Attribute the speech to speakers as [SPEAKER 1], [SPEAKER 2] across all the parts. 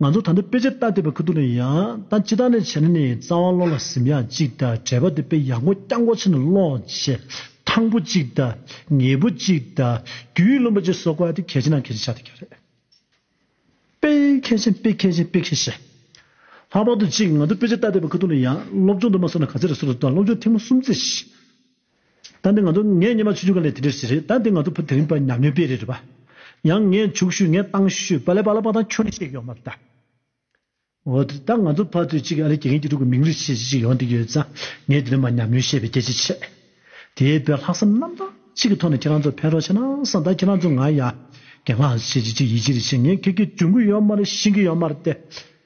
[SPEAKER 1] ང་ཚོ་ད་ལྟ་དཔེ་ཆ་བལྟ་འདོད་པའི་ཁུ་ཐུག་ལས་ཡང་ད་ཅི་ཐག་ནས་བྱས་ན་ནི་རྩ་བ་བློ་ལ་གཟིམ་ཡག་གཅིག་དང་བྲལ་བ་དེ་དཔེ་ཡག་མགོ་རྐྱང་མགོ་ཆེ་ནས་ཀློག་བྱེད་ཐང་པོ་གཅིག་དང་ངེས་པོ་གཅིག་དང་རྒྱུས་ཡོད་ལོན་པ་བཅས་བཟོ་དགོས་པ་དེ་གལ་ཆེ་ནའང་གལ་ཆེ་ཆགས་བསྡད་ཀྱི་རེད། དཔེ་མཁས་ཅན་དཔེ་མཁས་ཅན་དཔེ་མཁས་ཤེས། ལྷག་པར་དུ་གཅིག་ང་ཚོ་དཔེ་ཆ་བལྟ་འདོད་པའི་ཁུ་ཐུག་ལས་ཡང་སློབ་སྦྱོང་དུ་མ་སོང་ན་ག་ཚད་རེ་སོར་དུ་བཏང་སློབ་སྦྱོང་ཐེངས་མ་གསུམ་བརྩི། ད་འདི་ང་ཚོ་ངས་ཉིན་མ་ཆུ་ཆུ་ག་ལེ་དེ་འདྲས་ཞིག་རེད་ད་འདི་ང་ཚོ་བུ་དེ་རིང་པ་ཉམས་ཉོས་པས་རེད་པ་ཡང་ངས་མཇུག་ཞུས་ངས་ཏང་ཞུས་པ་ལས་པ་ལ་པ་ཏང་ཁྱོད་ནས་ཤེས་ཀྱི་ཡོད་མ་རེད་ད། འོ་དེ་ད་ང་ཚོ་ཕ་ཚོས་གཅིག་གི་ཨ་རིའི་དགེ་རྒན་གྱི་ཕྲུ་གུ་མིང་རུས་ཆེ་ཞིག་ཅིག་ཡོང་འདི་ཡོད་ཙང་ངས་དེ་རིང་པ་ཉམས་ཉོས་ཤེས་པའི་སྐད་ཆ་བཤད། དེའི་དཔེར་ལྷག་བསམ་རྣམ་དག་ཅིག་གི་ཐོག་ནས་ཁྱེད་རང་ཚོ་ཕན་རོགས་བྱས་ན་བསམ་ད་ཁྱེད་རང་ཚོ་ང་ཡ་གེ་སྔགས་ཤེས་ཅིག་ཅིག་ཡིད་ཆེས་རེ་བྱེད་ངས་ཁྱེད་ཀྱི་གྱོན་གུད་ཡོད་མ་རེད་ཤིང་གི་ཡོད་མ་རེད་ཏེ།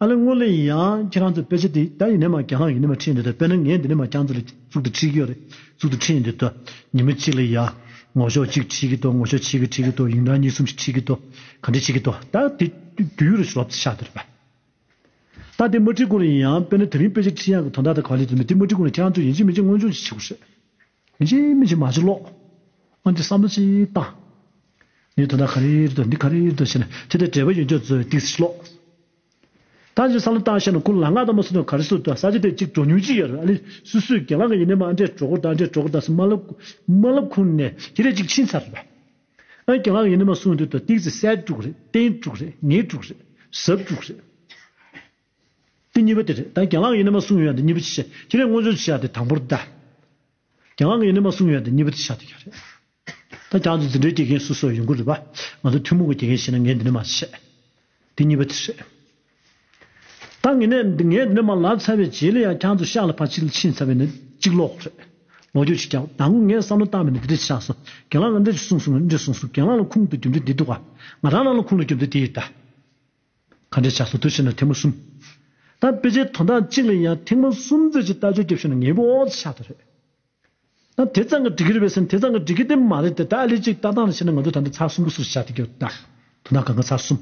[SPEAKER 1] ཨ་ལེ་སྔོན་ལས་ཡིན་ཡང་ཁྱེད་རང་ཚོས་དཔེ་ཆ་དེ་ད་ཡིན་ནས་མ་རྒྱ་ནག་གིས་ནས་མ་ཁྲིད་འདོད་ད་དཔེར་ན་ངས་འདི་ནས་མ་རྒྱང་ཚོ་ལ་གཙུག་ཏུ་ཁྲིད་ཀྱི་ཡོད་རེད་གཙུག་ཏུ་ཁྲིད་འདོད་ད་ཉིན་མོ་གཅིག་ལ་ཡ་ངོ་ཞོག་གཅིག་ཁྲིད་ཀྱི་ཏོ་ངོ་ཞོག་ཕྱེད་ཀྱི་ཁྲིད་ཀྱི་ཏོ་ཡིན་ན་གཉིས་གསུམ་ཞིག་ཁྲིད་ཀྱི་ཏོ་ག་འདྲས་ཁྲིད་ཀྱི་ཏོ་ད་དེ་དུས་ཡུ་རོ་ཞིག་ལོབ་ཚེ་ཤ་འདོད་རེད་པས་ད་དེ་མ་ཁྲིད་གོང་ལ་ཡིན་ཡང་དཔེར་ན་དེ་རིང་དཔེ་ཆ་ཁྲིད་ཡག་གི་དོན་དག་ད་ག་ལས་བཟོ་མེད་དེ་མ་ཁྲིད་གོང་ལ་ཁྱེད་རང་ཚོས་ཡིན་གཅིག་མིན་གཅིག་མངོན་ཆུང་ཞིག་བྱེད་དགོས་རེད། མི་ཅི་མི་ཅི་མ་ཅི་ཀློག། སྔོན་དུ་བསམ་བློ་ཅི་བཏང། ནས་དོན་དག་ག་རེ་རེད་འདི་ག་རེ་རེད་ཞེས་ན་ཅི་དེ་འབྲེལ་བ་ཡོད་རྒྱུ་ཚོད་ལྟིག་ཅི་ཀློག། ད་ཅི་བསམ་བློ་བཏང་ཤེས་ན་ཀུན་ལ་སྔགས་དང་མ་སུ་དང་ག་རེ་སུ་དང་ས་ཅི་དེ་ཅིག་འགྲོ་ཉུང་ཅི་ཡོད་རེད་ཨ་ལི་སུ་སུའི་གྱེན་ལངས་ཀྱི་ཡིན་ནས་མ་ཨ་འདྲས་འགྲོ་གོ་ད་འདྲས་འགྲོ་གོ་ད་སུ་མ་མ་ལབ་ཁུང་ནས་ཅི་རེད་ཅིག་ཕྱིན་ཚར་རེད་པས། ཨ་གྱེན་ལངས་ཡིན་ནས་མ་སུ་འདི་དོད་ཏིག་ཅི་གསལ་དཀྲུག་རེད་བརྟན་དཀྲུག་རེད་ངེས་དཀྲུག་རེད་གཟབ་དཀྲུག་རེད། འདི་གཉིས་པ་དེ་རེད་ད་རྒྱ་ནག་གི་ནི་མ་གསུངས་ཡོད་ན་འདི་གཉིས་པ་ཅི་བྱེད་ཁྱེད་རས་སྔོན་བྱོན་ཆེ་བ་དེ་དང་པོར་བལྟ། རྒྱ་ནག་གི་ནི་མ་གསུངས་ཡོད་ན་འདི་གཉིས་པ་ཅི་བྱ་འདི་ག་རེད། ད་རྒྱ་ནག་ཏུ་འཛིན་གྲྭའི་དགེ་རྒན་སུ་སུ་ཡོང་གི་རེད་བ། ང་ཚོ་ཐུན་མོང་གི་དགེ་རྒན་བྱེད་ན་ངས་འདི་ནི་མ་ཅི་བྱེད། འདི་གཉིས་པ་དེ་རེད། ད་ངས་འདི་ནི་མ་ལབ་ཚར་བའི་རྗེས་ལ་ཡང་ཁྱང་ཚོ་ཤག་ལ་ཕར་ཕྱིན་ཕྱིན་ཚར་བས་ནི་གཅིག་ལོག་གི་རེད། ལོག་རྒྱུ་གཅིག་རྒྱབ་ད་ངོ་ངས་བསམ་བློ་བཏང་བས་ནི་འདི་འདྲ་བྱས་སོ་རྒྱ་ནག་ལ་འདྲ་ཅིག་གསུངས་སོང་ངས་འདྲ་གསུངས་སོ་རྒྱ་ནག་ལ་ཁུངས་དུ་རྒྱུ་འདྲ་འདི་འདུག་ག་ང་རང་རང་ལ་ཁུངས་ལ་རྒྱུ་འདྲ་འདི་ཡོད་ད། ཁ་འབྲལ་བྱ་སྲོལ་དུས་ཕྱིས་ནས་ཐེངས་མ་གསུམ་དང་དཔེ་ཆའི་དོན་དག་གཅིག་ལ་ཡང་ཐེངས་མ་གསུམ་བརྩད་ཀྱི་ལྟ་སྤྱོད་སྐྱེ་བཞིན་ནི་ངེས་པའི་འོག་ཏུ་ཆགས་འདུག་རེད། དེ་ཙམ་གྱི་འགྲིག་གི་རེད་བས་སེམས་དེ་ཙམ་གྱི་འགྲིག་གི་དེ་མ་རེད་དེ་ད་ལས་ཅིག་ལྟ་སྟངས་ལ་བྱས་ན་ང་ཚོས་ད་ལྟ་ཚར་གསུམ་གྱི་སུ་ཞིག་བྱ་ཐུབ་ཀྱི་ཡོད་དམ། དོན་དག་གང་གི་ཚར་གསུམ།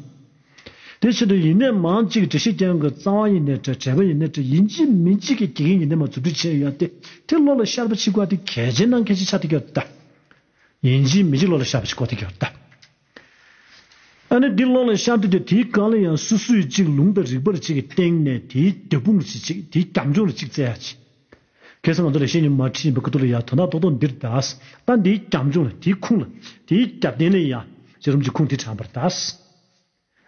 [SPEAKER 1] དེ་བཞིན་དུ་ཡིན་ནས་མང་གཅིག་གི་འགྲེལ་བཤད་རྐྱང་གི་གཙང་བ་ཡིན་ནས་བྲལ་བྲལ་བ་ཡིན་ནས་བྲལ་ཡིན་གཅིག་མིན་གཅིག་གི་དགེ་རྒན་ཡིན་ནས་མ་རྫུ་འཕྲུལ་ཅན་ཡོད་དེ་དེ་བློ་ལ་ཤར་བ་ཅིག་བཀོལ་ཏེ་གལ་ཆེན་ནང་གལ་ཆེན་ཆགས་ཐུབ་ཀྱི་ཡོད་དམ། ཡིན་གཅིག་མིན་གཅིག་བློ་ལ་ཤར་བ་ཅིག་བཀོལ་ཐུབ་ཀྱི་ཡོད་དམ། ཨ་ནི་འདི་ལོག་ལ་ཤར་འདུག་སྟེ་དེའི་གང་ལ་ཡང་སུ་སུས་ཅིག་ལུང་དང་རིགས་པར་བྱེད་ཀྱི་སྟེང་ནས་དེའི་རྒྱབ་དཔུང་ལ་བྱེད་ཅིག་དེའི་རྒྱབ་ལྗོངས་ལ་ཅིག་བཙལ་ཡག་ཅིག། གལ་སྲིད་ང་ཚོ་ལས་བྱེད་ཉི་མ་ཁྲི་ཡིན་པའི་ཁུ་ཐུར་ལ་ཡང་དོ་ནག་ཏོག་ཏོག་འདིར་གདའ། ད་འདིའི་རྒྱབ་ལྗོངས་ལ་དེའི་ཁུངས་ལ་དེའི་རྒྱབ་རྟེན་ལ་ཡང་ཇེ་རུམ་གྱི་ཁུངས་དེ་དྲངས་པར་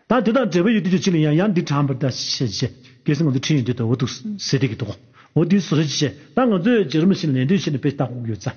[SPEAKER 1] གདའ། ད་དེ་དང་འབྲེལ་བའི་ཡུལ་དེ་ཅུ་གཅིག་ལ་ཡང་ཡང་འདི་དྲངས་པར་གདའ། གལ་སྲིད་ང་ཚོ་ཁྲིད་ཡིག་འདི་ལྟ་བུ་འདུག་ཟེར་བསྡད་ཀྱི་འདུག་གོ། འོ་དེ་སུ་རེད། ད་ང་ཚོས་ཇེ་རུམ་ལ་ཕྱིན་ནས་ལན་ལྡོན་བྱས་ནས་དཔེ་ལྟ་སྒུག་ཡོད་ཙང།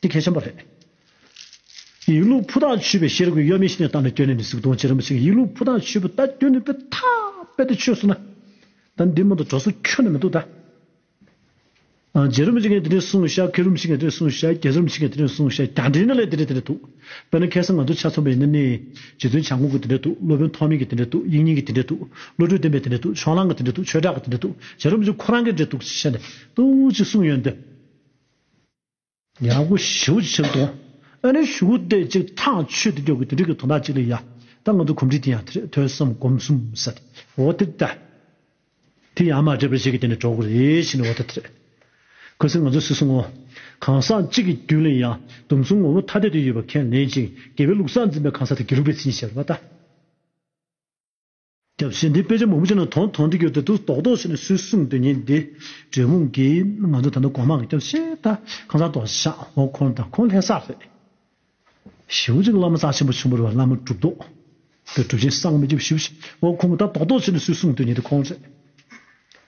[SPEAKER 1] འདི་གལ་ཆེན་པོ་རེད། ཡིག་ལུགས་ཕུ་ཐག་ཆོད་པའི་ཤེས་རབ་ཀྱི་གཡོ་མེད་ཤེས་ནས་བཏང་ནས་བསྐྱོད་ནས་མི་གཟིགས་གདོང་ཅན་རིན་པོ་ཆེ་གི་ཡིག་ལུགས་ཕུ་ཐག་ཆོད་པོ་ལྟ་བསྐྱོད་ནས་པོད་ཐག་རྦད་དེ་ཆོད་སོང་ན། ད་འདི་མོ་འདི་གྲོ་སོ་ཁྱོན་ན་མི་འདུག་ད། རྗེ་རིན་པོ་ཆེ་ངས་དེ་ནས་བཟུང་ཤ་ཁེ་རིན་པོ་ཆེ་ངས་དེ་ནས་བཟུང་ཤ་རྒྱལ་རིན་པོ་ཆེ་ངས་དེ་ནས་བཟུང་ཤ་རྒྱ་འདྲེ་ནི་ལས་དེ་འདྲས་དེ་འདྲས་འདུག་དཔེར་ན་ཁེ་སང་ང་ཚོ་ཆ་ཚང་པ་ཡིན་ན་ནི། རྗེ་བཙུན་བྱ་འགུགས་ཀྱི་དེ་འདྲས་འདུག་སློབ་དཔོན་ཐོགས་མེད་ཀྱི་དེ་འདྲས་འདུག་དབྱིག་གཉེན་གྱི་དེ་འདྲས་འདུག་བློ་གྲོས་བརྟན་པའི་དེ་འདྲས་འདུག་ཕྱོགས་གླང་གི་དེ་འདྲས་འདུག་ཆོས་གྲགས་ཀྱི་དེ་འདྲས་འདུག་རྗེ་རིན་པོ་ཆེ་ཁོ་རང་གི་འདྲས་འདུག་ཅེས་བཤད་ནས་ཏུའུ་ཅེས་གསུངས་ཡོད་དོ། ཡང་སྒོ་བཞི་བོ་ཕྱིར་དོང། ཨ་ནི་ཞུ་བོ་སྟེ་གཅིག་ཐང་ཆོད་དུ་སྐྱོ་དགོས་དོན་དྲི་གི་དོང་དག་གཅིག་ལས་ཡ། ད་ང་དུ་གོམས་དྲི་དེ་ཡང་ཐེར་ཐོད་བསམ་སྒོམ་གསུམ་ཟེར། འོ་དེ་ལྟ། དེ་ཡང་མ་འདྲེས་པར་གཞི་གི་དེ་ནས་གྲོགས་རེ་ཤི་ནས་འོ་དེ་ཐེར། གོ་སྲིད་ང་ཚོ་སུ་སུ་ངོ། གང་ཟག་གཅིག་གི་རྒྱུད་ལས་ཡང་དུམ་གསུམ་ངོ་བོ་ཐ་དད་དུ་ཡོད་པ་ཁས་ལེན་ཅིང་དགེ་བའི་ལུགས་སྲ་འཛིན་པའི་གང་ཟག་དེ་དགེ་ལུགས་པའི་ཚིག་ཉིད་ཤེས་པར་བ་ད། སྐྱབས་སེམས་འདི་དཔེ་ཆ་མང་པོ་ཅན་ལ་དོན་དང་འདྲི་གྱུར་ཏེ་དུ་དོག་དོག་བྱས་ནས་སུས་གསུངས་དོན་ཡིན་འདི། དྲེད་མོང་གིས། ང་ཚོ་ད་ལྟ་གོང་མ་གི་སྐྱབས་ཆེ་ད། ཁང་བཟང་དོག་ཞག་འོག་འཁོར་ད་ཁོང་ལྷས་བསགས་རེད། ཞེ་བོ་ཅིག་བླ་མ་རྩ་ཆེན་པོ་ཆེན་པོར་བ་བླ་མ་གྲུབ་དོག། དེ་གྲུབ་ཆེན་གསང་མི་རྒྱབ་ཞེ་བོ་ཞིག་འོག་ཁོང་གི་ད་དོག་དོག་བྱས་ནས་སུས་གསུངས་དོན་ཡིན་འདི་ཁོང་རེད།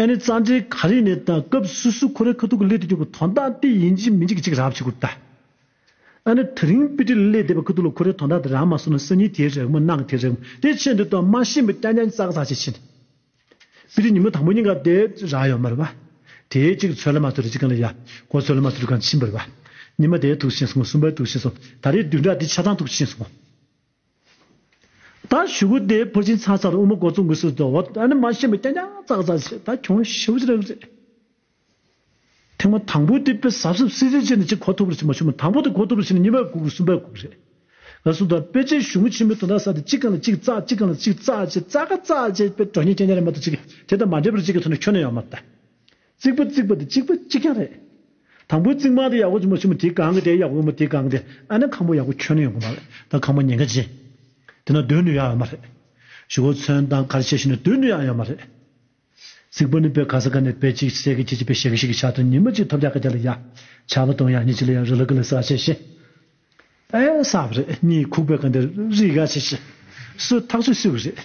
[SPEAKER 1] ཨེ་ནི་རྩ་འགྲེལ་ག་རེ་ནས་དང་སྐབས་སུ་སུ་ཁོ་རེ་ཁ་ཐུག་གི་སླད་དུ་ཀྱང་གི་དོན་དག་དེ་ཡིན་གྱི་མི་འཇིག་གི་ཅིག་རག་བྱེད་དགོས་པ་ཨེ་ནི་དེ་རིང་པི་ཏྲི་ལ་སླད་དེ་བ་ཁ་ཐུག་ལ་ཁོ་རེ་དོན་དག་དེ་རག་མ་སོང་ན་སེམས་ཉིད་དེའི་རེག་མོ་སྣང་གི་དེའི་རེག་མོ་དེ་ཆེད་འདི་དོན་མ་ཤེས་པའི་སྐྱ་རྒྱ་ཙག་ཙག་ཅིག་བྱེད་པི་ཏྲི་ཉིན་མོ་དང་པོ་གཉིས་ཀ་དེ་རག་ཡོད་མ་རེད་བ་དེའི་ཅིག་ཚོད་ལ་མ་ཚོད་རེ་ཅིག་གང་ལ་ཡ་གོ་ཚོད་ལ་མ་ཚོད་རེ་གང་ཕྱིན་པ་རེད་བ་ཉི་མ་དེའི་ཐུགས་ཤིན་སོང་ངོ་གསུམ་པའི་ཐུགས་ཤིན་སོང་ད་རེས་བདུན་ཕྲག་དེ་ཆ་ཚང་ཐུགས་ཤིན་སོང་ངོ། ད་ཞུ་གུ་དེ་འཕུར་ཕྱིན་ཚར་ཚར་དབུ་མ་སྒོ་ཙུག་འགུལ་སུ་ཙོ་འོ་ད་ནི་མ་ཤེས་པ་ཀྱང་ཀྱང་ཙག་ཙག་བྱེད་ད་གྱོང་ཞིབ་བྱེད་རེད་བྱེད། ཐེངས་མ་དང་པོ་དེ་དཔེ་ཟབ་ཟབ་སིལ་སིལ་བྱས་ནས་ཅིག་གོ་ཐུབ་རེད་བྱས་མ་བྱུང་མ་དང་པོ་དེ་གོ་ཐུབ་རེད་བྱས་ནས་གཉིས་པ་གུག་གསུམ་པའི་གུག་རེད་ག་སུ་དོག་དཔེ་ཆའི་གཞུང་ཆེན་མོའི་དོན་དག་ས་དེ་གཅིག་གང་ལ་གཅིག་ཙག་གཅིག་གང་ལ་གཅིག་ཙག་བྱེད་ཙག་ཙག་བྱེད་དཔེ་གྲོགས་གཉིས་ཀྱང་ཀྱང་རེད་མ་ཏོག་ཅིག་དེ་དང་མ་འབྲེལ་པར་གཅིག་གི་ཐོག་ནས་ཁྱོན་ནས་ཡོང་མ་ཏེ། རྩིག་པ་རྩིག་པ་དེ་གཅིག་པ་གཅིག་རྐྱང་རེད། དང་པོའི་རྩིག་མ་དེ་ཡག་པོ་ཆུང་མ་ཆུང་མ་དེ་གང་གི་དེ་ཡག་པོ་ཡོད་མ་དེ་གང་གི་དེ་ཨ་ནི་ཁང་པ་ཡག་པོ་ཁྱོན་ནས་ཡོང་གི་མ་རེད་ད་ཁང་པ་ཉེན་ཁ་ཆེ། དེ་ན་སྡོད་ནུས་ཡག་ཡོད་མ་རེད། ཞུ་བོ་ཚོན་དང་གར་ཆས་ཞིག་ནས་སྡོད་ནུས་ཡག་ཡོད་མ་རེད། རྩིག་པ་ནི་པའི་ག་ས་ག་ནས་པའི་གཅིག་བྱས་གི་གཅིག་གཅིག་པའི་བྱས་གི་བྱས་གི་བྱ་དང་ཉི་མ་གཅིག་ཐོབ་བྱ་ག་བྱ་ལ་ཡག་བྱ་བ་དང་ཡག་ཉིས་གཅིག་ལ་ཡག་རི་ལ་གི་ལ་ས་ག་ཆས་ཤེས་ཨེ་ས་བ་རེད་གཉིས་ཁུག་པའི་ག་འདི་རིག་ག་ཆས་ཤེས་སུ་ཐག་ཆོད་སུས་གི་རེད།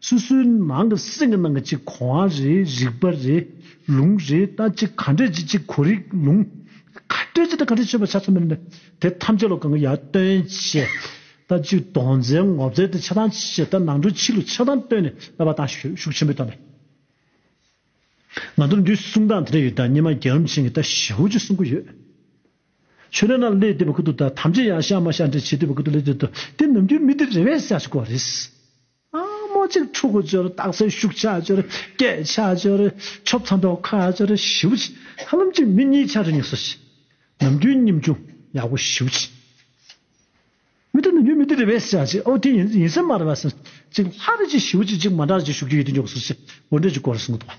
[SPEAKER 1] སོ་སོའི་ནང་གི་སེམས་ཀྱི་ནང་གི་གཅིག་གོ་བ་རེ་རིག་པ་རེ་ལུང་རེ་ལྟ་གཅིག་ག་འདྲས་ཀྱི་གཅིག་གོ་རིག་ལུང། ག་འདྲས་ཀྱི་དང་ག་འདྲས་ཆོད་པར་བྱ་ཚོད་མེད་ནི། དེ་ཐམས་ཅད་ལ་གང་གི་ཡར་སྟོན་བྱེད། ལྟ་གཅིག་དོང་རྩལ་ངོ་བཙལ་དུ་ཆགས་སྡང་བྱེད་ལྟ་ནང་དྲོད་ཕྱི་ལུས་ཆགས་སྡང་བཏོན་ནས་བསླབ་པ་དང་ཤུགས་ཆེན་པོས་བཏོན་པས། ང་ཚོར་འདིའི་གསུང་སྟངས་དེ་འདྲ་ཡོད་ལྟ་སྙེ་མ་རྒྱལ་རོམ་ཆེན་གྱི་ལྟ་ཞི་བོ་ཅིག་གསུང་གི་ཡོད། ཆོས་རྣམས་ལ་ལས་འདས་པ་ཀུན་ཏུ་ལྟ་ཐམས་ཅད་ཡང་བཤགས་མ་བཤགས་འདྲེས་བྱེད་འདོད་པ་ཀུན་ཏུ་ལས་འདས་དོ་དེ་ནམ་རྒྱུན་མི་དེ་རེ་བས་བཤགས་ཤིག་གོ་རེ། མོ་གཅིག་ཕྲུ་གུ་སྦྱོར་རྟགས་ཚེ་ཤུགས་ཆགས་སྦྱོར་སྐད་ཆགས་སྦྱོར་ཆོབ་ཚ་མདོག་ཁ་སྦྱོར་ཞི་བ་ཆེ་ཧ་ལམ་གཅིག་མི་གཉིས་ཆ་རེ་གཉིས་སོ་བཞི། ནམ་རྒྱུན་སྙེམས་ཆུང་ཡག་པོ་ཞི་བ་ཆེ། མི་དེ་ནམ་རྒྱུན་མི་དེ་རེ་བས་ཆ་གཅིག་ཨོ་དེ་ཡིན་སེམས་མ་རེ་བ་སེམས་གཅིག་ལྷ་རེ་གཅིག་ཞི་བ་གཅིག་གཅིག་མ་འདྲ་གཅིག་ཤུགས་རྒྱུ་ཡི་དེ་མགྱོགས་སོ་བཞི་འོ་འདྲ་གཅིག་གོ་རེ་གསུམ་གོ་དང་བ།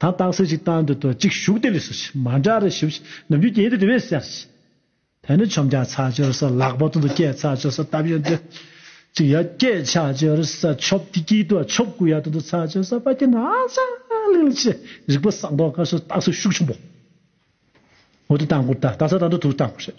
[SPEAKER 1] ད་རྟགས་སེ་ཅིག་བཏང་འདུག་དོ་གཅིག་ཞུགས་དེ་ལས་སུ་ཆི་མ་འདྲ་རེ་ཞུ་ཕྱིས་ནམ་རྒྱུན་གྱེན་དེ་དེ་བས་སེར་ཅི། དེ་ནི་ཆོམ་རྒྱག་ཚགས་སྦྱོར་ས་ལག་པ་དུང་དུ་སྐྱེད་ཚགས་སྦྱོར་ས་སྟབས་ཡོན་ཏན་ཅིག་ཡ་སྐྱེད་ཆགས་སྦྱོར་ས་ཆོབ་དེ་སྐྱིད་དུ་བ་ཆོབ་དགུ་ཡ་དུང་དུ་ཚགས་སྦྱོར་ས་པ་སྐྱེད་ན་ཧ་ཅང་ལེགས་ལ་ཆེ་རིག་པ་བསགས་མདོག་དཀར་སོ་རྟགས་སེ་ཤུགས་ཆུང་པོ། འོ་དེ་བཏང་དགོས་ད་རྟགས་སེ་བཏང་འདུག་དུ་བཏང་དགོས་རེད།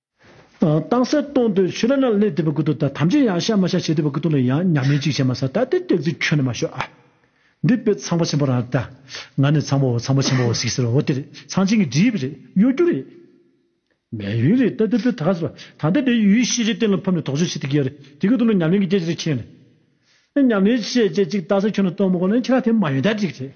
[SPEAKER 1] ཏང་གསལ་སྟོང་དུ་ཆུ་ལ་ནགས་ལས་དེ་བས་དགུ་ཏུ་དང་ཐམས་ཅད་ཡང་ཤ་མ་ཤ་བྱེད་དེ་བས་དགུ་ཏུ་ལ་ཡང་ཉག་མའི་ཅིག་བྱེད་མ་ས་ད་དེ་སྟེགས་ཚུལ་ཁྱོད་ནི་མ་ཤོད་ཨ། འདི་དཔེ་ཚངས་པ་ཆེན་པོ་རང་རེད་ད། ང་ནི་ཚངས་པ་འོ་ཚངས་པ་ཆེན་པོ་འོ་ཟིག་ཟེར་བ་འོ་དེ་རེད་ཚངས་ཆེན་གྱི་གྲིབ་རེད་གཡོ་སྒྱུ་རེད། མེ་ཡོན་རེད་ད་དེ་དཔེ་ད་ག་ཟེར་བ་ད་ལྟ་དེ་ཡུལ་ཤེས་བྱའི་གཏན་ལ་ཕབ་ནས་དོགས་གཅོད་བྱེད་དེ་གི་ཡ་རེད་དེ་གི་ཏུ་ལ་ཉམས་ལེན་གྱི་སྐྱེ་བྱེད་རེད་ཁྱེད་ནི། ཉམས་ལེན་བྱེད་བྱེད་ཅིག་ད་ས་ཁྱོད་ནི་སྟོང་མ་གོ་ལ་ཁྱེད་རང་དེ་མ་ཡོན་ད་ཅིག་རེད།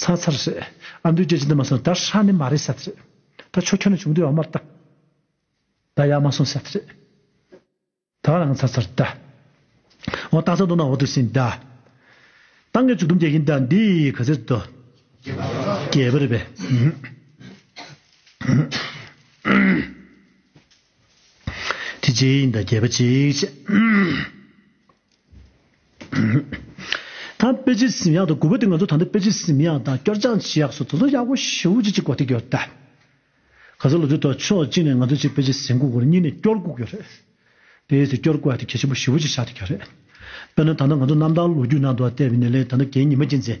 [SPEAKER 1] ཚ་ཚ་རེད། ཨ་མདོའི་རྒྱལ་སྤྱི་འདི་མ་སོང་དར་ཧྲ་ནི་མ་རེད་ཟེར་རེད། ད་ཆོ་ཁྱོད་ནས་བྱུང་དུས་འོག་མར་བཏགས། ད་ཡག་མ་སོང་ཟེར་རེད། ད་བ་ལང་ཚ་ཚ་རེད། འོ་ཏང་ཚ་འདུག་ན་འོ་དུ་སིན། ཏང་གི་ཚུགས་དུམ་རྒྱག་གིན་ད་འདི་ག་ཚེ་རེད། རྒྱལ་པོ་རེད་པས། དེ་གཅིག་ཡིན་ད་རྒྱལ་པོ་གཅིག་བྱས། ད་པེ་ཅིན་སིམ་ཡག་དང་གུ་བེ་ཏི་ང་ཚོ་ད་ལྟ་པེ་ཅིན་སིམ་ཡག་དང་སྐྱོར་སྦྱང་བྱེད་ཡག་སོགས་དོ་དོ་ཡག་པོ་ཞེ་བོ་ཅིག་ཅིག་གོ་ཐིག་གི་ཡོད་རེད་ད། ག་ཚོད་ལོ་ཚོད་ཐོག་ཕྱོགས་གཅིག་ནས་ང་ཚོ་ཅིག་པེ་ཅིན་སིམ་གུག་གོ་རེད་གཉིས་ནས་སྐྱོར་གུག་ཡོད་རེད། དེའི་ཚེ་སྐྱོར་གུག་ཡག་དེ་གལ་ཆེན་པོ་ཞེ་བོ་ཅིག་ཆགས་ཐིག་གི་ཡོད་རེད། དཔེར་ན་ད་ལྟ་ང་ཚོ་གནམ་བདག་ལོ་རྒྱུས་ནང་དུ་བལྟས་པའི་ནི་ལས་ད་ལྟ་གད་སྙིགས་མ་ཅན་ཚེ།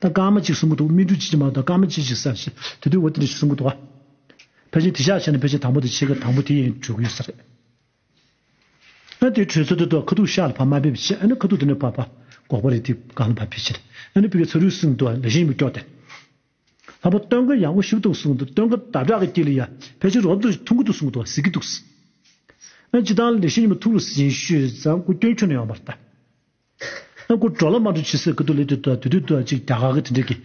[SPEAKER 1] དང་སྐར་མ་གཅིག་གསུམ་གོ་འདུག་སྨིན་དྲུག་གཅིག་ཅེས་མ་གཏོགས་སྐར་མ་གཅིག་གཅིག་ཟེར་ཞིང་དེ་དུས་འོ་དེ་འདྲ་ཞིག་གསུང་གི་འདུག་ཨ། ཕལ་ཆེར་དེ་ཤག་ཆེ་ན་ཕལ་ཆེར་དང་པོ་དེ་ཕྱེད་ཀ་དང་པོ་དེ་ཡིན་འགྲོ་གི་ཡོད་ས་རེད། ཨ་དེའི་གྲོས་ཚོགས་དེ་ཐོག་ཁ་ཐུག་ཤག་ལ་ཕ་མ་ཕེབས་ཤེས་ཨ་ནི་ཁ་ཐུག་དེ་ནས་ཕ་ཕ་འགོག་པ་རེད་དེ་གང་ལ་ཕ་ཕེབས་ཤེས་ཨ་ནི་ཕི་ཀའི་ཚ་རུས་གསུང་འདུག་ཨ་ལེ་ཤིང་མི་སྐྱོག་སྟེ། ལྷ་པོ་སྟོན་ཀ་ཡང་འོ་ཞིབ་ཏུ་གསུང་འདུག་སྟོན་ཀ་དག་དགྲ་གི་སྐྱེ་ལི་ཡ་ཕལ་ཆེར་རོབ་ཏུ་ཐུག་གི་འདུག་གསུང་འདུག་ཨ་ཟེར་གི་འདུག། ཨ་སྤྱི་དང་ལེ་ཤིང་ཉི་མ་ཐུག་རུ་ཟིན་ཤོས་ཟ་འགོ་སྐྱོན་ཁྱོད་ནས་ཡོང་བར་ལྟ། ཨ་ཁུ་གྲོ་ལ་མ་གྲོ་ཕྱི་སེར་ཀི་དུ་ལི་དུ་དུ་དུ་དུ་དུ་ཅིག་རྒྱ་གར་གི་དེ་འདྲས་ཀི་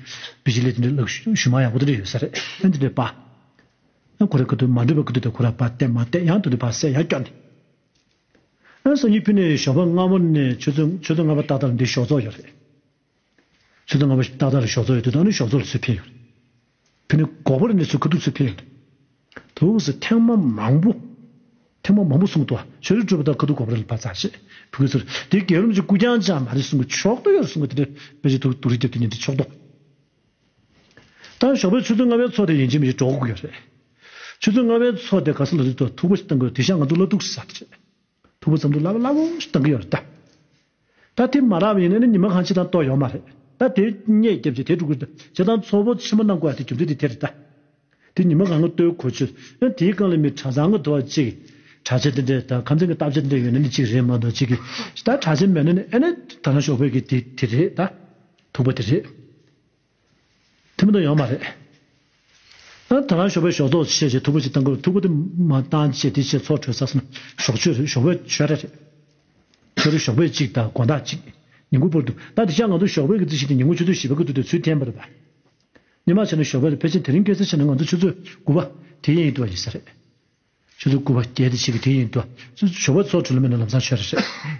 [SPEAKER 1] བི་ཇི་ལི་དེ་འདྲས་ལག་ཞུ་མ་ཡང་གོ་དེ་འདྲས་ཡོད་ས་རེད་ཨ་དེ་འདྲས་པ། ཨ་ཁུ་ར་ཀི་དུ་མ་འདྲས་པ་ཀི་དུ་དུ་ཁུ་ར་པ་སྟེ་མ་སྟེ་ཡང་དུ་དུ་བ་སེ་ཡ་སྐྱོ་ནི། ཨ་སང་ཉི་ཕི་ནས་ཞོགས་པ་སྔ་མོ་ནས་ཆུ་ཚོད་ཆུ་ཚོད་ལྔ་པ་ཏག་ཏག་ལ་འདི་ཞོགས་ཚོགས་ཡོད་རེད། ཆུ་ཚོད་ལྔ་པ་ཏག་ཏག་ལ་ཞོགས་ཚོགས་ཡོད་དུ་དུ་ཨ་ནུ་ཞོགས་ཚོགས་ལ་སུས་ཕེབས་ཡོད་རེད། དེ་ནས་འགོག་པར་གནས་ཚུལ་ག་དུས་ཚོད་འཕེལ། དེ་འོག་སུ་ཐེངས་མ་མང་པོ། ཐེངས་མ་མང་པོ་གསུངས་ཐོག་ཞོར་རིས་སྤྲོས་པ་དག་ག་དུས་འགོག་པར་ལ་བ་ཙ་ཞེས་བུ་གུའི་ཚུལ་དེ་དགེ་རུམ་གྱི་སྐུ་རྐྱང་ཅང་མ་རིས་གསུང་གི་ཕྱོགས་ཏུ་ཡོད་གསུང་ངོ་དེ་འདྲའི་བོད་ཀྱི་དུག་རིགས་རྒྱབ་ཏུ་ཉེ་འདི་ཕྱོགས་ཏོག་དང་ཞོགས་པའི་ཆུ་ཚོད་ལྔ་བའི་ཚོགས་དེ་ཡིན་ཅེས་མི་ཞིག་སྒྲོག་གི་ཡོད་རེད། ཆུ་ཚོད་ལྔ་བའི་ཚོགས་དེ་ག་ས་ལ་རིགས་ཐོག་ཐུག་པ་ཞིག་བཏང་དགོས་རེད་དེ་ཤ་ང་ཚོ་བླ་སྡུག་ས་རེད། ཕུ་བོ་ཙམ་དུ་སླ་བ་སླ་བོ་ཞིག་བཏང་གི་ཡོད་རེད་ད། ད་དེ་མ་རག་པའི་ཡིན་ན་ནི་ཉི་མ་གང་བྱེད་དང་གཏོགས་ཡོད་མ་རེད་ད་དེ་རྙེད་རྒྱབ་ཀྱི་དེ་དཀྲུག་བྱེད་དང་ཚོ་བོ་ཆེན་མོ་གནང་དགོས་པ་དེ་རྒྱུ་མཚན་དེ་དེ་རེད་ད། དེ་ཉི་མ་གང་གི་ལྟོས་གོ་ཆོད་ཡང་དེའི་སྒང་ལ་མི་གྲྭ་ཚང་གི་དོ་བ་གཅིག་གྲྭ་ཆེན་དེ་འདྲས་དང་ཁམས་ཚན་གྱི་སྟབས་ཆེན་དེ་འདྲས་ཡོད་ན་ནི་གཅིག་རེད་མ་གཏོགས་གཅིག་གིས་ད་གྲྭ་ཆེན་མེད་ན་ནི་ཨེ་ན་ད་ནང་ཞོགས་པའི་གི་དེ་དེ་རེད་ད། ཐུག་པ་དེ་རེད། ཐུབ་ན་ཡོང་མ་རེད། ཨ་ད་རང་ཞོགས་པའི་ཞོགས་ཚོགས་བྱེད་ཅེས་ཐུགས་ཁུར་ཅིག་བཏང་དགོས་ཐུགས་ཁུར་དེ་མ་བཏང་ཅེས་དེ་ཆེད་ཚོགས་གྲོལ་ས་སམ་ཞོགས་ཆོས་རེད་ཞོགས་པའི་ཆོས་ར་རེད། ཁྱོད་རང་ཞོགས་པའི་ཅིག་དང་དགོན་བདག་ཅིག་ཉིང་ཁུ་པོར་འདུག་ད་དེ་ཆ་ང་ཚོ་ཞོགས་པའི་གི་རྩིས་ཤིག་དེ་ཉིང་ཁུ་ཆུ་ཚོད་བཞི་པ་གི་འདུག་དེ་ཚུལ་ཐན་པ་རེད་པ། སྙན་མ་བྱས་ན་ཞོགས་པའི་ལ་ཕེ་ཆེན་དེ་རིང་སྐད་ཚིག་ཆེ་ན་ང་ཚོ་ཆུ་ཚོད་དགུ་པ་དེ་ཡིན་འདུག་བ་ཡིན་ས་རེད། ཆུ་ཚོད་དགུ་པ་བརྒྱད་དེ་ཆིག་གི་དེ་ཡིན་འདུག་བ། ཞོགས་པའི་ཚོགས་གྲོལ་ལ་མེད་ན་ལམ་སང་ཆོས་ར་རེད།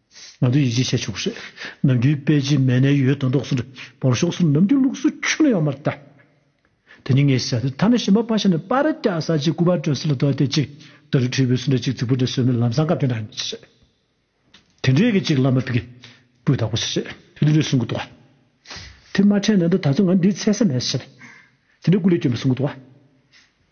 [SPEAKER 1] ང་ཚོས་ཡིད་ཆེས་བྱས་ཆོག་པ་ཞིག་ནམ་རྒྱུན་དཔལ་སྤྱི་མེས་ནས་ཡོད་དོ་འདོགས་སུ་འབོར་ཤོག་སུ་ནམ་རྒྱུན་ལུགས་སུ་ཆུ་ལ་ཡོང་མར་བལྟ། དེ་ནི་ངས་བྱས་ཏེ་མཐའ་ན་ཞི་མ་ཕ་ཤ་ནས་པར་སྐྱ་ས་ཅིག་སྐུ་པར་བཀྲོལ་སྲིད་ལ་དོ་དེ་ཅིག་ད་རུ་ཁྲི་བོའི་སུ་འདྲ་ཅིག་རྫིག་པོ་འདྲ་ཟོས་མེད་ལམ་སང་སྐབས་དེ་འདྲ་ཡིན་ཞེས། དེ་འདྲའི་གི་ཅིག་བླ་མ་པིཀི་པོས་བདག་པོ་བྱེད་ཞེས་ཕུ་ལུ་ལུས་གསུང་གི་འདུག་བ། དེ་མ་ཕྲད་ན་འདི་ད་ཚོ་ང་འདིའི་ཚད་ས་མེད་ཟེར། དེ་འདྲའི་སྐུ་ལས་སྐྱོན་པའི་གསུང་གི་འདུག་བ།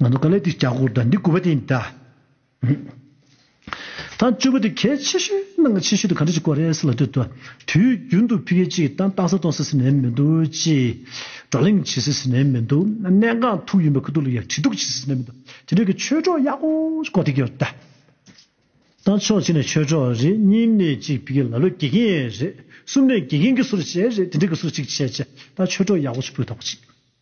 [SPEAKER 1] ང་ཚོ་ག་ལེར་འདི་བྱ་གོ་དང་འདི་དགོས་པ་དེ་འདྲ་མེད། ཐང་བཅུ་པོ་དེ་གལ་ཆེ་ཤོས་གནང་གལ་ཆེ་ཤོས་དེ་ག་འདྲ་ཞིག་གོ་རེད་ཟེར་ལ་དེ་དུས་རྒྱུན་དུ་ཕི་གེ་གཅིག་གི་ཏང་རྟགས་གསལ་གཏོང་ཟེར་ཟིན་ནས་མི་འདུག་ཅེས་བགྲོ་གླེང་བྱེད་ཟེར་ཟིན་ནས་མི་འདུག་གནད་འགག་ཐུག་ཡིན་པ་ཁུ་ཐུག་ལ་ཡང་དྲིལ་སྒྲོག་བྱེད་ཟེར་ཟིན་ནས་མི་འདུག་དེ་འདྲ་གི་ཆོས་གྲོགས་ཡག་པོ་ཞིག་གོ་ཐིག་ཡོད་ད། ཏང་ཕྱོགས་གཅིག་ནས་ཆོས་གྲོགས་རེད་གཉིས་ནས་གཅིག་ཕི་གེ་ལ་ལོ་དགེ་རྒན་རེད་གསུམ་ནས་དགེ་རྒན་གྱི་སུ་རུ་བྱས་རེད་དེ་འདྲ་གི་སུ་རུ་གཅིག་བྱས་ཅེས་ད་ཆོས་གྲོགས་ཡག་པོ་ཞིག་སྤུས་དག་པོ་ཞིག།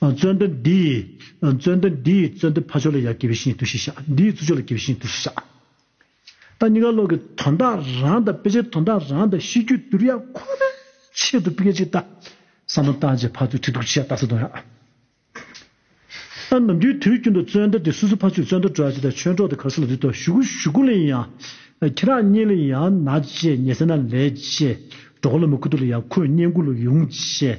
[SPEAKER 1] བརྩོན་འགྲུས་འདི་ཡིས་བརྩོན་འགྲུས་འདི་ཡིས་བརྩོན་འགྲུས་ཕ་ཆོས་ལ་ཡར་སྐྱེ་བའི་བཞིན་དུ་ཞིག་བྱ། འདི་ཡིས་ཚུར་ཆོས་ལ་སྐྱེ་བའི་བཞིན་དུ་ཞིག་བྱ། ད་གཉིས་ཀ་བློ་གི་དོན་དག་རང་དང་དཔེ་ཆའི་དོན་དག་རང་དང་གཤིས་རྒྱུད་བསྡུར་ཡ་ཁོ་ནའི་ཆེད་དུ་སྐད་ཅིག་ལྟ་ས་མ་བཏང་རྗེས་ཕར་ཚུར་ཁྲིད་གཏུགས་ཅི་བྱ་ལྟ་ས་དོན་ཡ། ད་ནམ་རྒྱུན་དུས་རྒྱུན་དུ་བརྩོན་འགྲུས་འདི་སུ་སུ་ཕ་ཆོས་བརྩོན་འགྲུས་སྤྲོ་བ་ཅི་དང་ཆོས་གྲོགས་དེ་ག་སུ་ལ་འདུད་དོ་གཞུག་གུ་གཞུག་གུ་ལ་ཡིན་ཡང་ཁྱེད་རང་གཉིས་ལ་ཡང་ན་ཅེས་ཉེ་སེར་ན་ལས་ཅེས་གྲོགས་ལ་མི་ཁུ་ཐུག་ལ་ཡང་ཁོས་བསྙེན་བཀུར་ལ་ཡོང་ཅེས།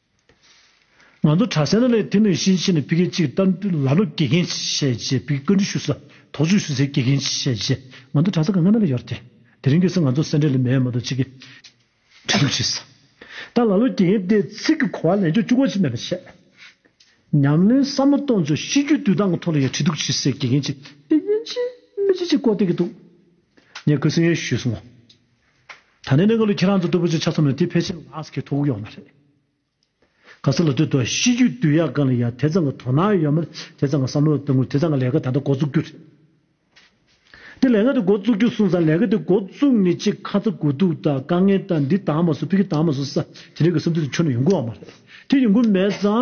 [SPEAKER 1] ང་ཚོ་གྲྭ་སེར་ལ་ལས་དེ་མིན་གཞི་ཕྱི་ནས་ཕི་གེ་གཅིག་ལྟར་འདུག་ལ་ལོ་དགེ་རྒན་བྱས་རྗེས་ཕི་གེ་བཀའ་འདྲི་ཞུ་ས་དོགས་གཅོད་ཞུ་སའི་དགེ་རྒན་བྱས་རྗེས་ང་ཚོ་གྲྭ་ས་གང་ན་ལ་ཡོད་དེ། དེ་རིང་གི་སང་ང་ཚོ་སེ་འབྲས་ལ་མེད་མ་གཏོགས་ཅི་གི་འབྲེལ་འདུག་བྱས་ས་དང་ལ་ལོ་དགེ་རྒན་དེ་ཚིག་གི་གོ་བ་ལེན་ཆོག་བཅུག་གོ་ཅི་མེད་པ་བྱས། ཉམས་ལེན་བསམ་བློ་གཏོང་ཆོག་ཤི་རྒྱུ་དུས་ཐང་གི་ཐོག་ལ་ཡ་བྲིས་འདུག་བྱས་སའི་དགེ་རྒན་གཅིག་དགེ་རྒན་གཅིག་མི་གཅིག་ཅེས་བཀོད་སྟེ་གི་འདུག་ངས་ཁོའི་སེམས་ཡོད་ཞུས་སོང། ད་ནི་གནས་ག་ལུ་ཁྱེད་རང་ཚོ་སྟོད་བུ་ཆུ་ཆ་ཚང་མས་དེ་ཕལ་ཆེར་ལགས་ཀྱི་ཐུག་ཡོང་བ་རེད། ག་ས་ལ་ལྟོས་དོ་གཤིས་རྒྱུད་བསྡུས་ཡག་ག་ལ་ཡག་དེ་ཙང་གི་དོ་སྣང་ཡོད་མེད་དེ་ཙང་གི་བསམ་བློ་དེ་ངོ་དེ་ཙང་གི་ལས་ཀ་ད་ལྟ་འགོ་བཙུགས་རྒྱུ་རེད། དེ་ལས་ཀ་དེ་འགོ་བཙུགས་རྒྱུ་གསུངས་ཙང་ལས་ཀ་དེ་འགོ་བཙུགས་ནས་ཅིག་ཁ་ཚ་དགོས་གཏུགས་དང་དཀའ་ངལ་དང་འདི་དང་མ་སོ་ཕི་གི་དང་མ་སོ་ས་དེ་རིགས་ཀྱི་བསམ་ཚུལ་དེ་ཁྱོན་ནས་ཡོང་གི་ཡོད་མ་རེད། དེ་ཡོང་གི་མེད་ཙང་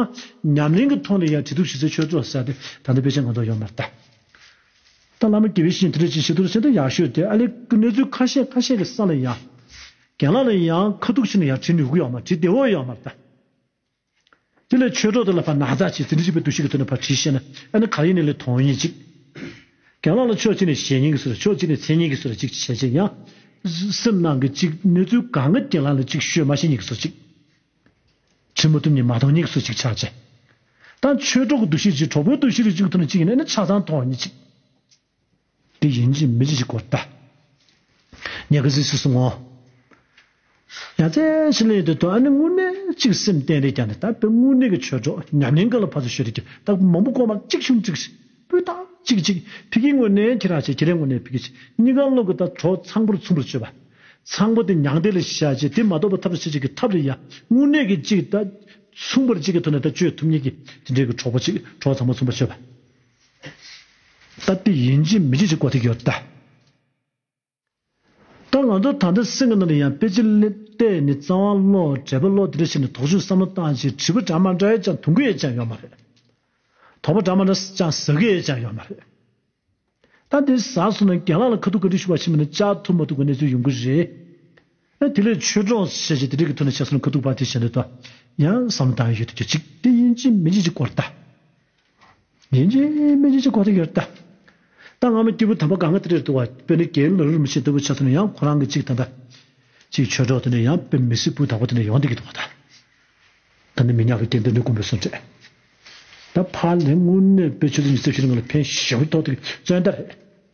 [SPEAKER 1] ཉམས་ལེན་གྱི་ཐོག་ནས་ཡང་དྲི་རྟུག་ཞི་ཚེ་ཆོས་རྫོགས་ས་དེ་ད་ལྟ་དཔེ་ཆ་ང་ཚོར་ཡོད་མ་རེད། ད་བླ་མ་དགེ་བའི་བཤེས་ཁྲི་ཆེན་ཞི་དུལ་ཆེན་དུ་ཡར་ཤོད་དེ་ཨ་ལེ་ཀི་གནས་ཚུལ་ཁ་ཤས་ཁ་ཤས་ཀྱི་ས་ལ་ཡང། གན་ལ་ལ་ཡང་ཁ་ཐུག་ཆེན་ནས་ཡང་བྲིས་ནུས་གུ་ཡང་མ་བྲིས་ཏེ་འོ་ཡང་མ་བཏགས། དེ་ལས་ཆོས་གྲོགས་དེ་ལ་ཕར་ན་ཛ་ཆེ་ཟིན་བྲིས་བྱས་པའི་འདུ་ཤེས་ཀྱི་ཐོག་ནས་ཕར་བྲིས་ཤེས་ན་ཨ་ནི་ག་ཡིན་ནི་ལས་དོན་ཡིན་ཅིག། གན་ལ་ལ་ཕྱོགས་གཅིག་ནས་ཞེ་སྙིང་གིས་སུ་ར་ཕྱོགས་གཅིག་ནས་མཚན་སྙིང་གིས་སུ་ར་ཅིག་བྱས་བྱས་ཡང། སེམས་ནང་གི་གཅིག་གནས་ཚུལ་གང་གི་རྐྱེན་ལ་ལ་ཅིག་ཤོས་མ་ཤེས་ཉིད་ཀྱིས་སུ་ཅིག། ཁྲི་མུ་ཏུམ་ནི་མ་ཐོག་སྙིགས་སུ་ཅིག་ཆགས་ཅི། དང། ཆོས་གྲོགས་གདུལ་བྱའི་ཅི་གྲོགས་པོའི་གདུལ་བྱའི་རིགས་གཅིག་ཐུག་ནས་གཅིག་གནས་ནི་ཆགས་སྡང་ཐོག་ཉིད་ཅིག། དེ་ཡིན་གྱི་མི་འབྱེད་ཅིག་གོ། ཏཱ། ཉེ་གི་གཟིགས་སུ་སོང་ངོ། ཡང་རྩེ་ཕྱི་ལན་ཡོད་དོ་ཨ་ནི་དངོས་གནས་གཅིག་སེམས་གཏན་རེ་བསྐྱངས་ནས་ད་དཔེ་དངོས་གནས་ཀྱི་ཆོས་གྲོགས་ཉམས་ལེན་ག་ལ་ཕར་ཚུར་ཤོད་རེ་ཀྱི་ད་མང་པོ་ཀོ་མ་གཅིག་ཆུང་གཅིག། སྤུས་དག་གཅིག་གཅིག་ཕིག་གི་ངོས་ནས་ཁྱི་རག་བྱེད་ཁྱི་རའི་ངོས་ནས་ཕིག་གི་བྱེད་གཉིས་ཀ་གློག་གི་ལྟར་གྲོགས་ཚངས་པོར་མཚུངས་པར་སྤྱོད་པ། ཚངས་པོ་དེ་མྱང་འདས་ལ་ཤེས་བྱ་ཅན་དེ་མ་གཏོགས་པ་ཐབས་སུ་བྱེད་ཅིག་གི་ཐབས་རེ་ཡང་དངོས་གནས་ཀྱི་གཅིག་ལྟ། མཚུངས་པར་གཅིག་གི་ཐོག་ནས་ལྟ་སྤྱོད་ཐུབ་ཉིད་ཀྱི་དེ་འབྲེལ་གྱི་གྲོགས་པོ་གཅིག་གྲོགས་ཚངས་པོར་མཚུངས་པར་སྤྱོད་པ། ལྟ་སྟེ་ཡིན་གཅིག་མི་གཅིག་ཅེས་བཀོད་དེ་ཡོད་ལྟ། ད་ང་ཚོ་ད་ལྟ་སེམས་ཀྱི་ནང་དུ་ཡང་པེ་ཅིན་གླེན་གཏད་ནི་རྩ་བ་བསློག་གྲལ་པོ་བསློག་དེ་འདྲ་བྱས་ནས་དོགས་གཞུག་བསམ་བློ་བཏང་རྗེས་དྲིལ་བུ་འདྲ་མ་འདྲ་ཡོད་ཀྱང་དུང་གི་ཡོད་ཀྱང་ཡོད་མ་རེད། དོགས་པ་འདྲ་མ་འདྲ་ཀྱང་ཟ་གི་ཡོད་ཀྱང་ཡོད་མ་རེད། ད་འདི་ཟ་སོང་ན་རྒན་ལགས་ལ་ཁ་ཐུག་བཀའ་དྲིན་ཞུ་བ་ཕྱིན་མི་ནས་བཅར་ཐུབ་མ་ཐུབ་ཀྱི་གནས་ཚུལ་ཡོང་གི་རེད། ཡང་དེ་ལས་ཆོས་གྲོགས་ཤེས་བྱའི་དེ་རིག་གི་ཐུགས་ནས་བྱས་སོ་ན་གུ་དུག་པ་དེ་བྱས་འདོད་དོ། ཡང་བསམ་བློ་དང་ཡོད་དུ་གྱུར་ཅིག། དེ་དབྱིན་ཇིའི་མི་འཇིགས་ཀྱི་སྐོར་ལྟ། དབྱིན་ཇིའི་མི་འཇིགས་ཀྱི་སྐོར་དེ་ཡོད་ལྟ། ད་སྔ་མོ་སྐྱེས་བུ་དམ་པ་ག་ང་དེ་རེད་འདུག་བ་དཔེར་ན་རྒྱའི་མི་རུ་རུ་མི་བྱས་འདོད་པོ་བྱས་སོ་ན་ཡང་ཁོ་རང་གི་གཅིག་ད་ལྟ། གཅིག་ཆོས་གྲོགས་དེ་ནས་ཡང་དཔེར་མི་སྲིད་བུ་དང་པོ་དེ་ནས་ཡོང་སྡོད་ཀྱི་འདུག་བ་ད། ད་ནི་མི་ཉག་གི་སྐྱེ་འདོད་ནི་དགོན་པའི་བཟོ་འདྲེ། ད་ཕར་ལྷན་དངུལ་གནས་དཔེ་ཆོས་ལུགས་ཉི་ཚེ་བཞི་ལ་ང་ལ་ཕན་ཞེ་བོ་ཐོག་ཏུ་བརྩོན་ད་རེད།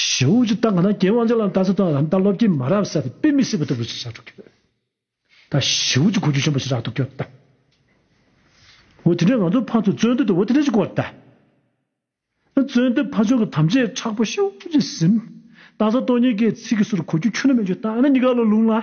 [SPEAKER 1] ཞི་བའི་རྒྱུ་དང་གནས་ཀྱི་དབང་ཆ་ལ་ལྟ་ཚུལ་དང་རམ་ལྟ་ལོག་གི་མ་རབས་གསར་པའི་དཔེ་མི་སྲིད་པ་ལྟ་བུ་ཞིག་ཆགས་འགྲོ་གི་ཡོད། ད་ཞི་བའི་རྒྱུ་གོ་རྒྱུ་ཆེན་པོ་ཞིག་རག་འདུག་གི་ཡོད། འོ་དེ་འདྲའི་ང་ཚོ་ཕ་ཚོ་བརྩོན་འགྲུས་དེ་འོ་དེ་འདྲའི་ཞིག་གོ་ད། བརྩོན་འགྲུས་ཕ་ཆོས་ཀྱི་དམ་བཅའི་ཁྲག་པོ་ཤུགས་ཀྱིས་ཟིན། རྟ་ཟ་སྟོང་ཉིད་ཀྱི་ཚིག་གི་ཟུར་གོ་རྒྱུ་ཁྱོད་ནི་མེད་རྒྱུ་ད་ཨ་ན་གཉིས་ཀ་ལ་ལུང་ལ།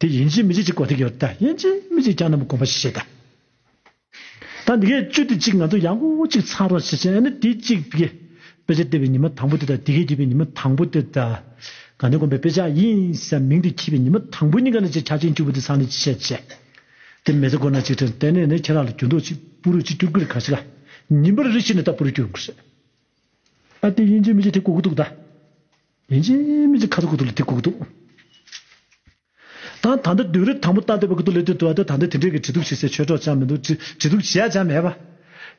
[SPEAKER 1] དེ་ཡན་ཆད་མི་གཅིག་གཅིག་གོ་ཐེག་ཡོད་ད་ཡན་ཆད་མི་གཅིག་ཀྱང་ནམ་དགོངས་པ་ཤེས་ད། ད་འདི་གའི་བཅུ་དེ་གཅིག་ང་ཚོ་ཡང་གོ་གཅིག་ཚང་རོགས་བྱེད་བྱེད་ནི་དེ་གཅིག་དཔེ་ཆ་ལྟེ་བའི་ཉི་མ་དང་པོ་དེ་ད་དེ་གའི་དགེ་བའི་ཉི་མ་དང་པོ་དེ་ད། གང་དེ་དགོན་པའི་དཔེ་ཆ་ཡིན་ས་མིང་དེ་འཁྱིལ་བའི་ཉི་མ་དང་པོ་གཉིས་ཀ་ནི་ཅེ་ཆ་ཅན་བཅུ་བོ་དེ་ཚང་ནི་ཅི་བྱེད་བྱེད། དེ་མེ་ཚེ་དགོན་ན་གཅིག་ཁྲེང་ཏེན་ནས་ནི་ཁྱེད་རང་ལ་འགྱུར་འདོག་ཅིག་པུ་རུ་ཅིག་སྐྱུར་གི་རེད་གང་ཞིག་ལ་ཉིན་པར་རེ་ཤི་ནི་ད་པུ་རུ་སྐྱུར་འགོ་ཤེས། ཨ་དེ་ཡན་ཆད་མི་གཅིག་དེ་གོ་གི་འདུག་ད། ལན་ཅིག་མི་ཅིག་ཁ་ཚ་དགུ་ཐུག་ལ་དེ་གུག་འདུག། ད་ད་ལྟ་དུས་རབས་དང་པོ་ལྟ་འདོད་པ་གུ་དུག་ལེ་དུས་དུ་བ་དུ་ད་ལྟ་དེ་འདྲས་ཀྱི་བྲིས་གདུགས་བྱེད་སའི་ཆོས་གྲོགས་ཅང་མི་འདུག་བྲིས་གདུགས་བྱེད་ཡ་ཅང་མེད་པ།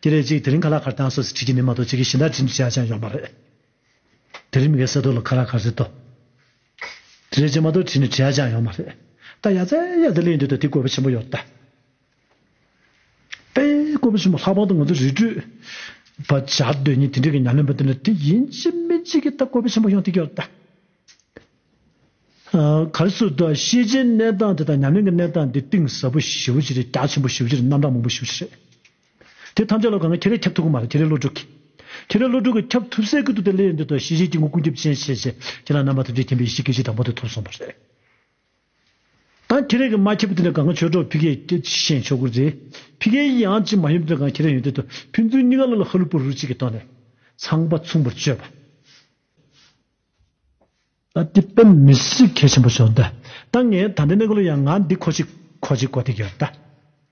[SPEAKER 1] དེ་ལས་གཅིག་དེ་རིང་ཁ་ལག་ཁར་དྭངས་སོ་ཟེར་བྲིས་ཀྱི་མི་མ་གཏོགས་གཅིག་གིས་གཞི་བདག་བྲིས་འདུག་བྱེད་ཡ་ཅང་ཡོག་མ་རེད། དེ་རིང་མི་གའི་སེ་ཐོག་ལ་ཁ་ལག་ཁར་ཟེར་ཏོ། དེ་ལས་གཅིག་མ་གཏོགས་བྲིས་ནས་བྲིས་ཡ་ཅང་ཡོག་མ་རེད། ད་ཡ་ཙེ་ཡ་ཙེ་གླེང་འདོད་ད་དེ་དགོས་པ་ཆེན་པོ་ཡོག་རེད་ད། པས་བཀོད་པ་ཆེན་པོ་ལྷག་པར་དུ་ང་ཚོས་རི་ཁྲོད་པ་བྱ་འདོད་ཉིད་དེ་འདྲའི་ཉམས་ལེན་པ་དེ་ལ་དེ་ཡིན་གཅིག་མིན་གཅིག་གི་ཐད་བཀོད་པ་ཆེན་པོ་ཡོང་ཐུབ་ཀྱི་རེད། གལ་སྲིད་དུ་ཤེས་བྱའི་གནས་སྟངས་དེ་དང་ཉམས་ལེན་གྱི་གནས་སྟངས་དེ་གཏིང་ཟབ་པོ་ཞི་བོ་ཞིག་རེད་རྒྱ་ཆེན་པོ་ཞི་བོ་ཞིག་རེད་རྣམ་གྲངས་མང་པོ་ཞི་བོ་ཞིག་རེད། དེ་ཐམས་ཅད་ལ་དགོས་ངེས་ཁྱེད་རས་ཁྱབ་ཐུབ་ཀྱི་མ་རེད་ཁྱེད་རས་བློ་གྲོས་ཀྱིས། ཁྱེད་རས་བློ་གྲོས་ཀྱིས་ཁྱབ་ཐུབ་སའི་ཁུལ་དུ་དེ་སླེབས་ཡོད་འདོད་དོ་ཤེས་བྱའི་སྐྱེ་དངོས་ཀུན་ཁྱབ་ཅན་ཤེས་བྱ་ཁྱེད་རང་རྣམ་པ་ཐམས་ཅད་མཁྱེན་པའི་ཡེ་ཤེས་སྐད་ཅིག་དང་པོ་དེ་ཐོབ་སོང་བ་རེད། ད་ཁྱེད་རང་གིས་མ་ཁྱེར་བ་དེ་ལས་གང་གི་ཆོས་གྲོགས་ཕི་ཁའི་ཅི་ཞེས་མཆོད་བཀུར་མཛད། ཕི་ཁའི་ཡིད་ཡང་ཅི་མ་ཡོད་པའི་དོན་གང་ཁྱེད་རང་ཡོན་ཏན་དུ་ཕན་ཚུན་གཉིས་ཀ་བློ་ལ་ཧ་ལུ་པོ་རུ་གཅིག་གིས་བཏང་ནས་ཚངས་པ་མཚུངས་པར་སྤྱོད་པ། ད་དེ་དཔེ་མི་སྲིད་གལ་ཆེན་པོ་བྱུང། ད་ངས་ད་ལྟའི་གནས་སྐོར་ལ་ཡང་ང་འདི་ཁོ་ཅིག་ཁོ་ཅིག་གོ་ཐེ་གི་ཡོད།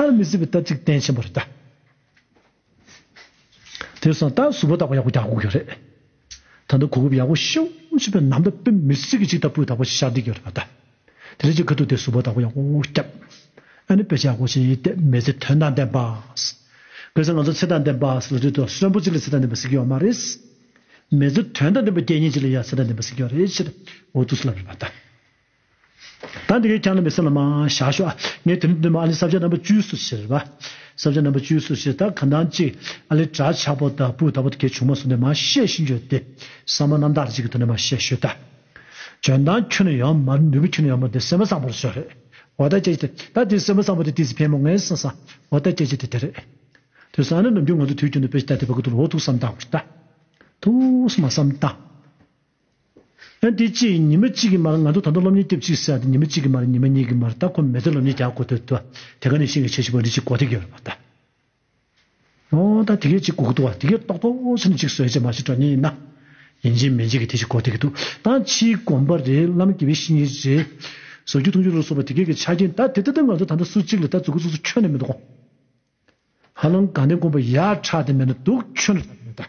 [SPEAKER 1] ཧར་མི་སྲིད་པའི་རྟ་ཚིགས་སྟན་ཆེན་པོ་རེད་ད། དེར་སོང་རྟ་གཟུགས་པོ་དག་པ་ཡག་པོ་རྒྱག་དགོས་ཀྱི་རེད། ད་ལྟ་གོ་སྐབས་ཡག་པོ་ཤོ་ཤོ་པའི་ནམ་ཟླ་དཔེ་མི་སྲིད་ཀྱི་ཅིག་རྟ་སྤུས་དག་པོ་ཞིག་ཤར་འདི་ཀྱི་རེད་པ་ད། དེ་ལས་ཅིག་ཁ་ཐུག་དེ་གཟུགས་པོ་དག་པོ་ཡག་པོ་རྒྱབ། ཨ་ནི་དཔེ་ཆ་ཡག་པོ་ཞིག་ཡིན་ཏེ་མེ་ཚེ་དོན་དང་ལྡན་པ། དགོས་ཚེ་ང་ཚོ་ཚེ་དང་ལྡན་པ་ཟེར་བ་དུས་ཐོག་གསོན་པོ་གཅིག་ལ་ཚེ་དང་ལྡན་པ་ཟེར་གྱི་ཡོད་མ་རེད། མེ་ཚེ་དོན་དང་ལྡན་པ་རྒྱལ་ཉིན་གཅིག་ལ་ཡང་ཚེ་དང་ལྡན་པ་ཟེར་གྱི་ཡོད་རེད་ཕྱིར་འོ་ཐུག་སུ་ལབ་རེད་པ་ད། ད་འདི་གས་ཀྱང་ན་མི་སེམས་ལ་མ་བཞག་ཤོག་ཨ། ངས་དེ་རིང་འདོད་མ་ཨ་ལི་བསབ་བྱ་རྣམ་པ་བཅུའི་སུ་ཕྱིར་བ། བསབ་བྱ་རྣམ་པ་བཅུའི་སུ་ཕྱིར་ད་ག་འདང་གཅིག་ཨ་ལི་གྲ་ཆགས་པོ་ད་སྤུས་ད་པོ་ད་གས་བྱུང་མ་སུ་ནས་མ་བཤད་ཤིན་བརྗོད་དེ་ས་མ་རྣམ་དག་གཅིག་གི་དོན་ནས་མ་བཤད་ཤོད་ད། འཇོན་ཐང་ཁྱོད་ནས་ཡང་མ་ནུས་པོ་ཁྱོད་ནས་ཡང་མ་དེ་སེམས་པ་བཟང་པོ་རེད་ཤོད་རེད་འོ་ད་སྐྱེ་ཅི་ད་དེ་སེམས་པ་བཟང་པོ་དེ་དེ་ཚི་ཕལ་མོ་ངས་སེམས་བཟང་འོ་ད་སྐྱེ་ཅི་དེ་དེ་རེད། དེ་སང་ནས་ནམ་རྒྱུན་ང་ཚོ་དུས་རྒྱུན་དུ་དཔེ་ཅི་ད་དེ་བ་གུ་དུ་ལོ་ཐུགས་བསམ་དང་བ་ཅི་ད། ཐུགས་སུ་མ་བསམ་ད། ཡང་དེ་ཅིས་ཉི་མ་གཅིག་གི་མར་ང་ཚོ་ད་དུང་སློབ་གཉེར་སྐྱོབ་ཅིག་ཟེར་ཏེ་ཉི་མ་གཅིག་གི་མར་ཉི་མ་གཉིས་ཀྱི་མར་ད་ཁོ་མེད་ཚེ་སློབ་གཉེར་རྒྱག་དགོས་ཐུག་ཏུ་དེ་ག་ནས་ཤེས་ཀྱི་བྱེད་ཞིག་པ་རི་ཅིག་གོ་ཐེ་གི་རོ་ད། ཨོ་ད་དེ་གས་ཅིག་གོ་གི་འདུག་བ་དེ་གས་ཏོག་ཏོག་ཟེར་ནས་ཅིག་བཟོས་ཅིག་མ་ཅིག་སྤྲོ་ཉེས་ན། ཡིན་ཅིག་མིན་ཅིག་གི་དེ་ཅིག་གོ་ཐེ་གི་འདུག་ད་ཕྱིའི་དགོན་པ་རེད་བླ་མ་དགེ་བའི་བཤེས་གཉེན་རེད། བཟོ་རྒྱུ་འཐུང་རྒྱུ་ལ་སོགས་པ་དེ་གས་ཀྱི་ཆ་རྐྱེན་ད་དེ་ལྟ་སྟབས་ང་ཚོ་ད་ལྟ་སུ་གཅིག་ལ་ད་རྫུ་གུ་ཚུགས་སུ་ཁྱོན་ནས་མི་འདུག་གོ། ཧ་ལམ་དགའ་ལྡན་དགོན་པ་ཡར་ཕྲག་དེ་མེད་ན་འདུག་ཁྱོན་ལ་ཕྲག་དེ་མེད་ད།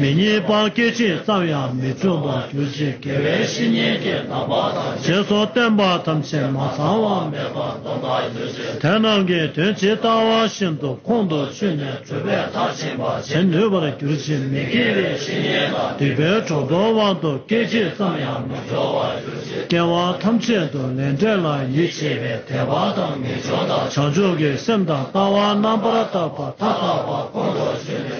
[SPEAKER 1] མི་གཉིས་པ་སྐད་ཅིག་ཙམ་ཡང་མི་འཆུག་པར་གྱུར་ཅིག་དགེ་བའི་བཤེས་གཉེན་གྱི་བདག་པོ་དང་ཞེས་སོགས་བསྟན་པ་ཐམས་ཅད་མ་ཚང་བ་མེད་པར་སྡོམ་པར་གྱུར་ཅིག་དེ་རྣམས་ཀྱི་དོན་ཇི་ལྟ་བ་བཞིན་དུ་ཁོང་དུ་ཆུད་ནས་གྲུབ་པའི་མཐར་ཕྱིན་པ་བྱེད་ནུས་པར་གྱུར་ཅིག་མི་དགེ་བའི་བཤེས་གཉེན་དང་སྡིག་པའི་གྲོགས་དོར་བ་དུ་སྐད་ཅིག་ཙམ་ཡང་མི་འགྲོ་བར་གྱུར་ཅིག་སྐྱེ་བ་ཐམས་ཅད་དུ་ལས་འབྲས་ལ་ཡིད་ཆེས་པའི་དད་པ་དང་ངེས་འབྱུང་དང་བྱང་ཆུབ་ཀྱི་སེམས་དང་ལྟ་བ་རྣམ་པར་དག་པ་མཐའ་དག་པ་ཁོང་དུ་ཆུད་ནས།